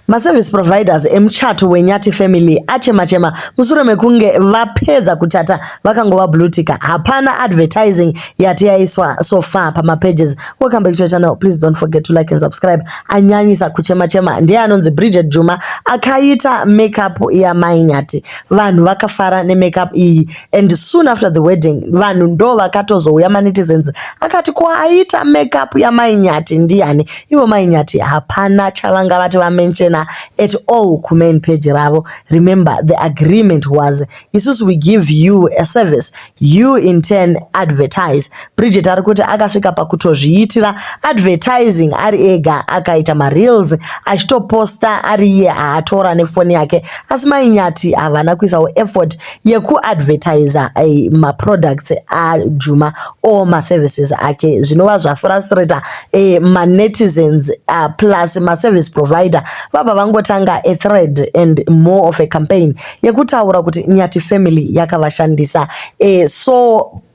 Maservice providers emuchato weNyathi family achema-chema mushure mekunge vapedza kuchata vakangova bluetika. Hapana advertising yati yaiswa so far pamapages. Welcome back to your channel. Please don't forget to like and subscribe. Anyanyisa kuchema-chema ndiye anonzi Bridget Juma akaita makeup yamai Nyathi. Vanhu vakafara nemakeup iyi. and soon after the wedding vanhu ndo vakatozouya manetizens akati ko aita makeup yamainyati ndiyani ivo mainyati hapana chavanga vati vamenchena at all kumain page ravo remember the agreement was isusu we give you a service you in turn advertise bridget ari kuti akasvika pakutozviitira advertising ari ega akaita mareels achitoposta ari iye aatora nefoni yake asi mainyati havana kuisawo effort yekuadvertiser eh, maproducts ajuma or maservices ake zvinova zvafrustrator eh, manetizens uh, plus maservice provider vabva vangotanga a thread and more of a campaign yekutaura kuti nyati family yakavashandisa eh, so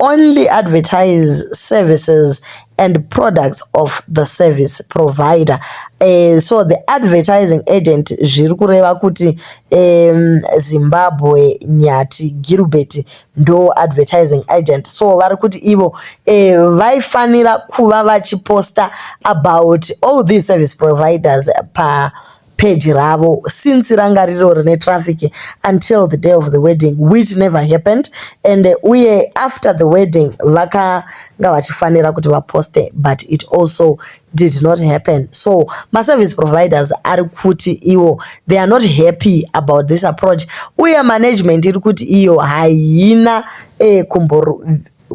only advertise services and products of the service provider uh, so the advertising agent zviri kureva kuti um, zimbabwe nyati gilbert ndo advertising agent so vari kuti ivo uh, vaifanira kuva vachiposta about all these service providers pa page ravo since ranga riro rine traffic until the day of the wedding which never happened and uh, uye after the wedding vakanga vachifanira kuti vaposte but it also did not happen so maservice providers ari kuti iwo they are not happy about this approach uye management iri kuti iyo haina eh, kumboro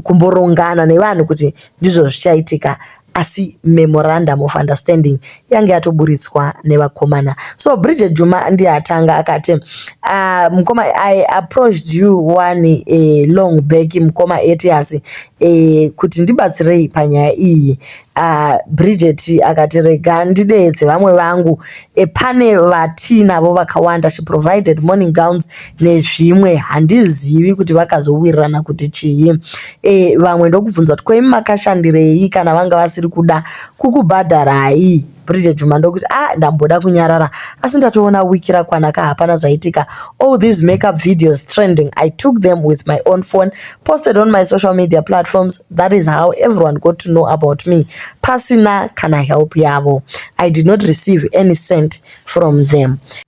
kumborongana nevanhu kuti ndizvo zvichaitika asi memorandum of understanding yange yatoburitswa nevakomana so bridget juma ndiye atanga akati uh, mukoma i approached you one uh, long back mukoma etias uh, eh, kuti ndibatsirei panyaya iyi Ah, Bridget akati rega ndideedze vamwe vangu e, pane vatiinavo vakawanda she provided morning gowns nezvimwe handizivi kuti vakazowirirana kuti chii e, vamwe ndokubvunza kuti koimi makashandirei kana vanga vasiri kuda kukubhadharai Bridget Juma ndokuti ah ndamboda kunyarara asi ndatoona week rakwana ka hapana zvaitika all these makeup videos trending I took them with my own phone posted on my social media platforms that is how everyone got to know about me pasina kana help yavo I did not receive any cent from them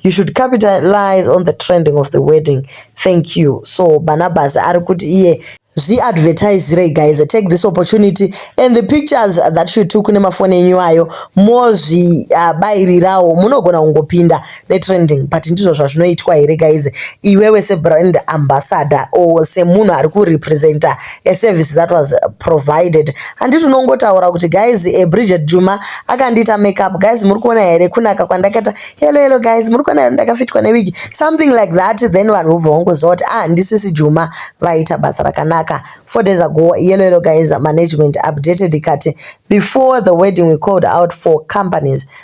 You should capitalize on the trending of the wedding. Thank you. So Barnabas ari kuti iye zviadvertisirei guys take this opportunity and the pictures that you took nemafoni enyu ayo mozvibairirawo uh, munogona kungopinda netrending but ndizvo zvazvinoitwa here guys iwewe sebrand ambassador or semunhu ari kurepresenta a service that was uh, provided handiti unongotaura kuti guys eh, bridget juma akandiita makeup guys muri kuona here kunaka kwandakaita hello hello guys muri kuona here ndakafitwa newigi something like that then vanhu vobva vangoziva kuti ah ndisisi juma vaita basa rakanaka four days ago hello hello guys management updated ikati before the wedding we called out for companies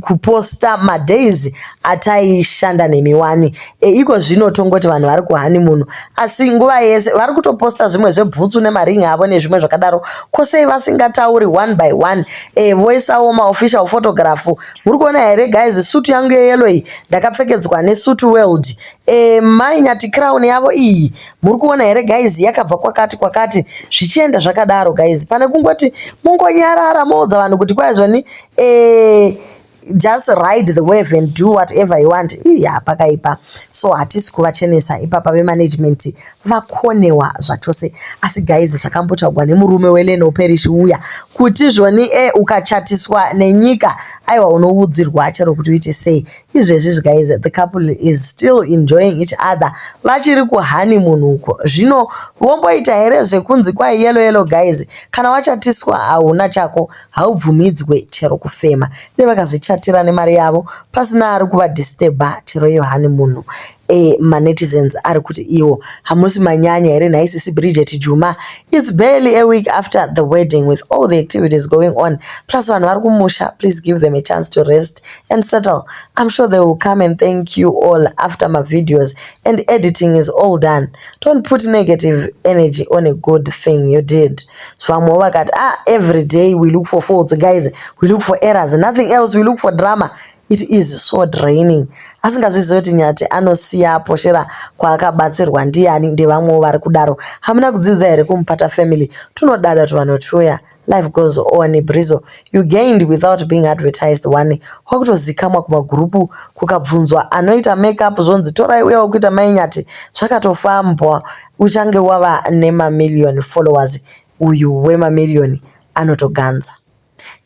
kuposta madays ataishanda nemi wani e, iko zvino tongoti vanhu vari kuhanimun asi nguva yese vari kutoposta zvimwe zvebhutsu nemaring avo nezvimwe zvakadaro kosei vasingatauri one by one e, voisawo maofficial photograph muri kuona here guys sutu yangu yeyelo iyi ndakapfekedzwa nesutu world e, mai nyati crown yavo iyi muri kuona here guys yakabva kwakati kwakati zvichienda zvakadaro guys pane kungoti mungonyarara moudza vanhu kuti kwaizvani eh, just ride the wave and do whatever you want iya pakaipa so hatisi kuvachenesa ipapa vemanagement vakonewa zvachose asi guys zvakambotaugwa nemurume weleno perish uya kuti zvoni e eh, ukachatiswa nenyika aiwa unoudzirwa chero kuti uite sei izvezvi guys the couple is still enjoying each other vachiri kuhani munhu uko zvino vomboita here zvekunzi kwai yelo yelo guys kana wachatiswa hauna chako haubvumidzwe chero kufema nevakazvichatira nemari yavo pasina ari kuvadisturba chero iyo hani munhu e, manetizens ari kuti iwo hamusi manyanya here nhai sisi bridget juma its barely a week after the wedding with all the activities going on plus vanhu vari kumusha please give them a chance to rest and settle i'm sure they will come and thank you all after mavideos and editing is all done Don't put negative energy on a good thing you did. Vamwe vakati, ah, every day we look for faults, guys, we look for errors, nothing else, we look for drama. It is so draining. Asingazvizive kuti nyati anosiya poshera kwaakabatsirwa ndiyani ndevamwewo vari kudaro. Hamuna kudzidza here kumupata family? Tunodada tuvanhu tuya. Life goes on Brizo you gained without being advertised wani kwakutozikamwa kumagurupu kukabvunzwa anoita make up zvonzi torai uya wekuita mai nyati zvakatofambwa uchange wava nemamillion followers uyu wemamillion anotoganza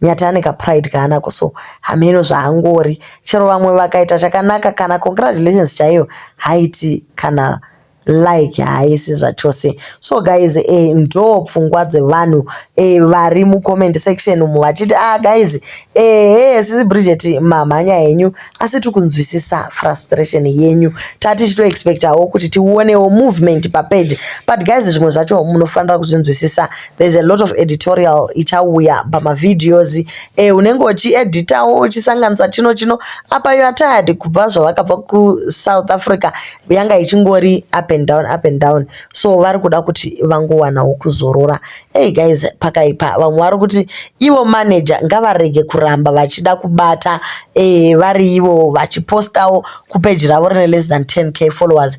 nyati ane kapride kaanako so hameno zvaangori chero vamwe vakaita chakanaka kana congratulations chaiyo haiti kana like haisi zvachose so guys eh, ndo pfungwa dzevanhu eh, vari mucomment section umu vachiti ah guys ehe eh, sisi bridget mamhanya henyu asi tiri kunzwisisa frustration yenyu tati titoexpectawo kuti tionewo movement papage but guys zvimwe zvacho munofanira kuzvinzwisisa there's a lot of editorial ichauya pamavideos eh, unenge uchieditawo uchisanganisa chino chino apa you are tired kubva zvavakabva kusouth africa yanga ichingori up and down up and down so vari kuda kuti vangowanawo kuzorora hey guys pakaipa vamwe vari kuti ivo manager ngavarege kuramba vachida kubata eh, vari ivo vachipostawo kupeji ravo rine less than 10k followers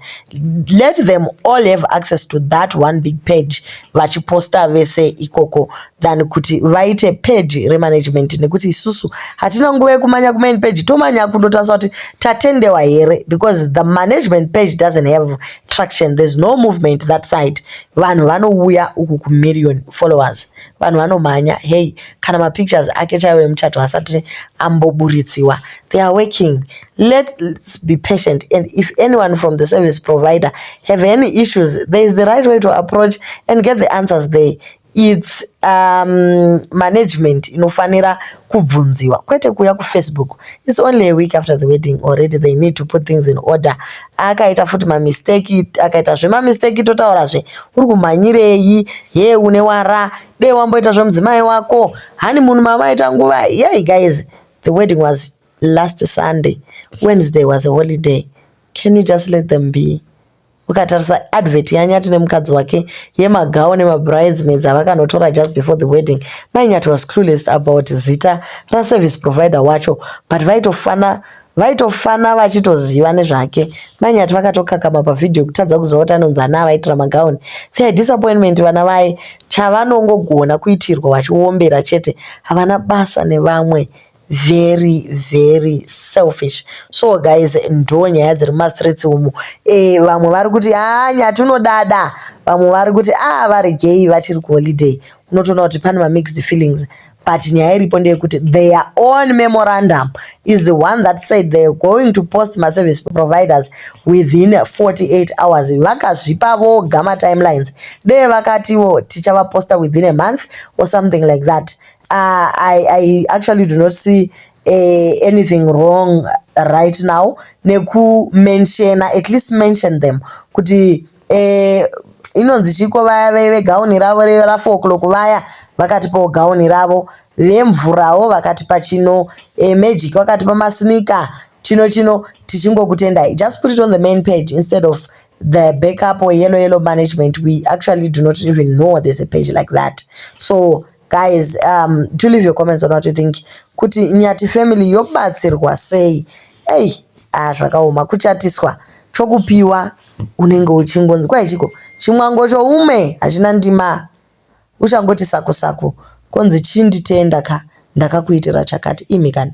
let them all have access to that one big page vachiposta vese ikoko than kuti vaite page remanagement nekuti isusu hatina nguva yekumanya kumain page tomanya kundotarisa kuti tatendewa here because the management page doesn't have traction there's no movement that side vanhu vanouya uku kumillion followers vanhu vanomhanya hey kana mapictures ake chaiwo emuchato asati amboburitsiwa they are working let's be patient and if anyone from the service provider have any issues there is the right way to approach and get the answers there It's um, management inofanira kubvunziwa kwete kuuya kufacebook its only a week after the wedding already they need to put things in order akaita futi mamisteki akaita zvemamisteki totaurazve uri kumhanyirei ye une wara dei wamboita zvemudzimai wako hani munhu mavaita nguva yei guys the wedding was last sunday wednesday was a holiday can you just let them be ukatarisa advert yanyati nemukadzi wake yemagawo nemabridesmaids avakanotora just before the wedding mai nyati was clueless about zita raservice provider wacho but vaitofana vaitofana vachitoziva nezvake mai nyati vakatokakama pavhidhiyo kutadza kuziva kuti anonzi ana avaitira magauni their disappointment vana vaye chavanongogona kuitirwa vachiombera chete havana basa nevamwe very very selfish so guys ndonyaya dziri mumastreets umu e, vamwe vari kuti haa ah, nyati unodada vamwe vari kuti a ah, vari gay vachiri kuholiday unotoona kuti pane mamixed feelings but nyaya iripo ndeyekuti their own memorandum is the one that said theyare going to post maservice providers within 48 hours vakazvipa voga matimelines dee vakatiwo tichavaposta within a month or something like that Uh, I, I actually do not see uh, anything wrong right now nekumenshena at least mention them kuti uh, inonzi chiko vaya vegauni ravo rafour o'clock vaya vakatipawo gauni ravo vemvurawo vakatipa chino e, magic vakatipa masinika chino chino tichingokutendai just put it on the main page instead of the backup or yellow yellow management we actually do not even know there's a page like that so Guys, um, do leave your comments on what you think. Kuti Nyati family yobatsirwa sei? Hey, ah, zvakaoma kuchatiswa chokupiwa unenge uchingonzi kwai chiko chimwango choume hachina ndima uchangoti saku saku konzi chinditenda ka ndakakuitira chakati imi kani